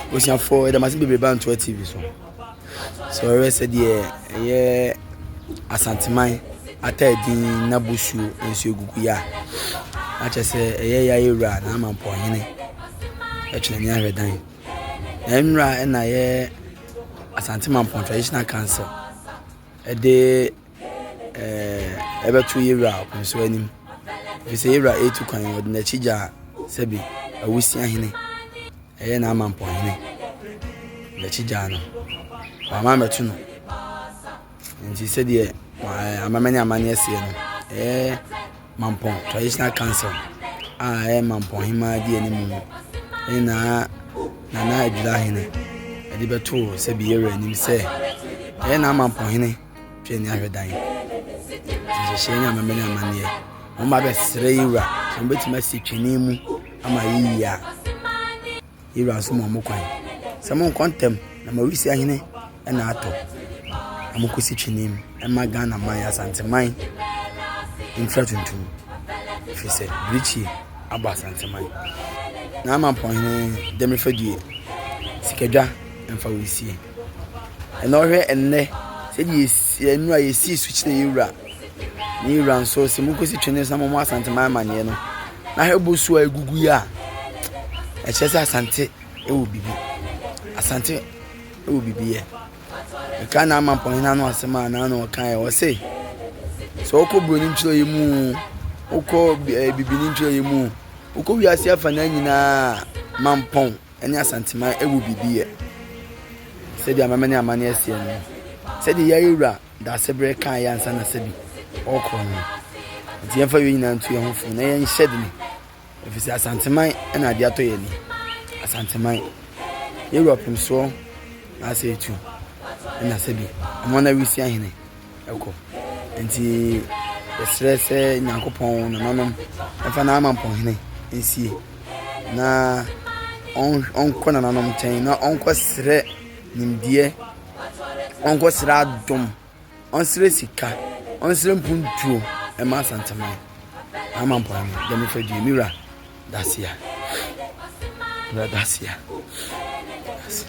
Abusuafoɔ yɛda mo ase bebree ba Ntoa TV so. Sɛ wɔhwɛ sɛdeɛ ɛyɛ Asanteman Ataadin na Bosuo nso egugu yɛ a, na kyerɛ sɛ ɛyɛ yɛ ayɛ wura na ama mpɔhene ɛtwene ne ahwɛ dan. Na nnura ɛna yɛ Asanteman Pɔn Traditional Council ɛde. ɛɛ ɛbɛto yɛn wura akwanso anim efisɛ yɛn wura retu kwan ɔde n'akyi gya sɛbi awusia hene ɛyɛ n'amampɔ hene n'akyi gya no wama mɛto no nti sɛdeɛ ɛɛ amamɛne amaneɛ seɛ no ɛɛ mampɔn traditional council a ɛyɛ mampɔn hemaa di anim no ɛne naa nana adwira hene ɛde bɛto sɛbi yɛn wura anim sɛ ɛyɛ n'amampɔn hene. Hwɛ ni ahwɛ dan. Nhyehyɛe ne amammerɛ ne amanneɛ. Wɔn ba bɛsrɛ yi wura sɛ wɔn bɛtumi asi twene mu ama yiyi a. Yi wura nso ma wɔn kwan. Sɛ mo nkɔ ntɛm na ma wisi ahene ɛna atɔ. Na mo kɔsi twene mu ɛma Ghana man Asanteman nfira tuntum. Ɛfiri sɛ birikyie abɔ Asanteman. Na ama mpɔnhene dɛm fadue sikadwa ɛmfa wisie. Ɛna ɔhwɛ ɛnnɛ sɛdeɛ yɛsi yɛn nnura yɛsi so kyerɛ yɛn wura ne yɛn wura nso sɛ monkɔsi twene nsa mɔmmɔ asanteman amanneɛ no na hwɛ bosuo a ɛgugu yi a ɛkyerɛ sɛ asante ɛwɔ biribi asante ɛwɔ biribi yɛ ɛka na ama mpɔnhene ano asɛm a na ano ɔka yɛ ɔse sɛ wokɔ buroni ntwerɛ yɛ mu wokɔ eh, bibini ntwerɛ yɛ mu wokɔ wiase afa no nyinaa mampɔn ne Asanteman awu biribi yɛ. Sɛdeɛ amema ne amanneɛ seɛ no, sɛdeɛ Yayewura Daasebrɛ kaeɛ ansa na sɛbi ɔrekɔ no, nti yɛmfa wei nyinaa ntu yɛn ho fo na yɛnhyɛ dene, ɛfiri sɛ Asanteman na adeɛ atɔ yɛn ani. Asanteman, Yayewura Ɔpemsoɔ na asɛ etu, ɛna sɛbi, Amona Wisiahene. ɛkɔ nti yɛsrɛ sɛ nyankopɔn nananom ɛmfa n'amampɔhene nsie na ɔnkɔ nananom nkyɛn na ɔnkɔ srɛ nimdeɛ ɔnkɔ srɛ adom ɔnsrɛ sika ɔnsrɛ mpuntuo ɛma asanteman amampɔhene dɛm fɛ due me wura dasia wura dasia dasia